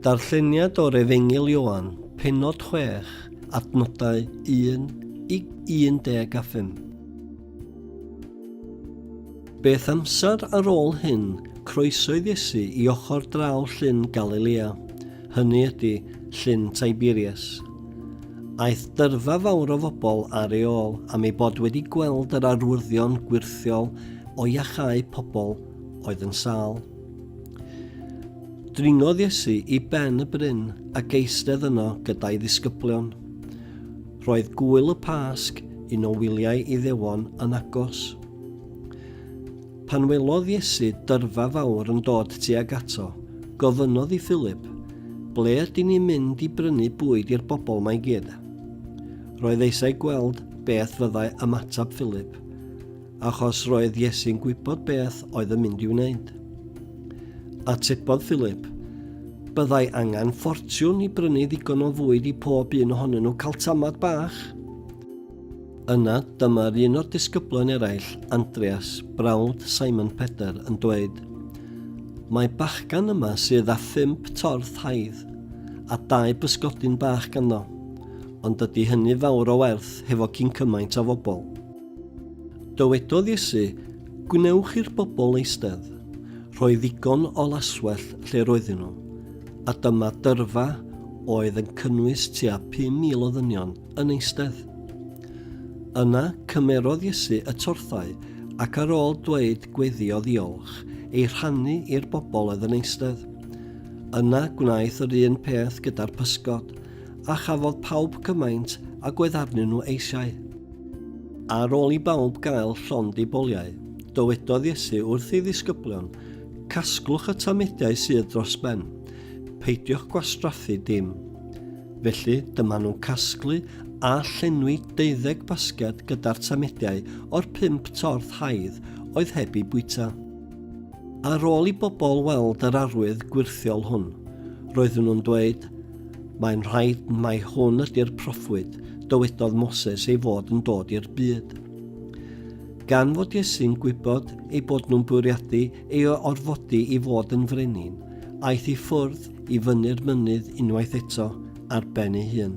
Darlleniad o'r Efengyl Ioan, pennod 6, adnodau 1 i 15. Beth amser ar ôl hyn, croesoedd Iesu i ochr draw llyn Galilea, hynny ydy, llyn Tiberias. Aeth dyrfa fawr o fobl ar ei ôl am ei bod wedi gweld yr arwyddion gwyrthiol o iachau pobl oedd yn sâl. Dringodd Iesu i ben y bryn a geistedd yno gyda'i ddisgyblion. Roedd gwyl y Pasg, un o wyliau Iddewon, yn agos. Pan welodd Iesu dyrfa fawr yn dod tuag ato, gofynnodd i Philip, Ble ydyn ni'n mynd i brynu bwyd i'r bobl mae gyd? Roedd eisiau gweld beth fyddai ymateb Philip, Achos roedd Iesu'n gwybod beth oedd yn mynd i'w wneud. Atebodd Philip, Byddai angen ffortiwn i brynu ddigon o fwyd i pob un ohonyn nhw cael tamad bach. Yna dyma'r un o'r disgyblau'n eraill, Andreas, brawd Simon Peder, yn dweud, Mae bachgan yma sydd â phump torth haidd a dau bysgodyn bach ganddo, ond dydy hynny fawr o werth hefo cyn cymaint o fobl. Dywedodd Iesu, Gwnewch i'r bobl eistedd. Rhoi ddigon o laswellt lle roedden nhw, a dyma dyrfa oedd yn cynnwys tua 5,000 o ddynion yn eistedd. Yna cymerodd Iesu y torthau ac ar ôl dweud gweddi o ddiolch, ei rhannu i'r bobl oedd yn eistedd. Yna gwnaeth yr un peth gyda'r pysgod. a chafodd pawb cymaint agwedd arnyn nhw eisiau. Ar ôl i bawb gael llond eu boliau, dywedodd Iesu wrth ei ddisgyblion, Casglwch y tamediau sydd dros ben, peidiwch gwastraffu dim. Felly, dyma nhw'n casglu a llenwi deuddeg basged gyda'r tamediau o'r pump torth haidd oedd heb i bwyta. Ar ôl i bobl weld yr arwydd gwirthiol hwn, roedden nhw'n dweud, Mae'n rhaid mai hwn ydy'r proffwyd dywedodd Moses ei fod yn dod i'r byd. Gan fod Iesu'n gwybod ei bod nhw'n bwriadu ei orfodi i fod yn frenin, aeth i ffwrdd i fyny'r mynydd unwaith eto ar ben ei hun.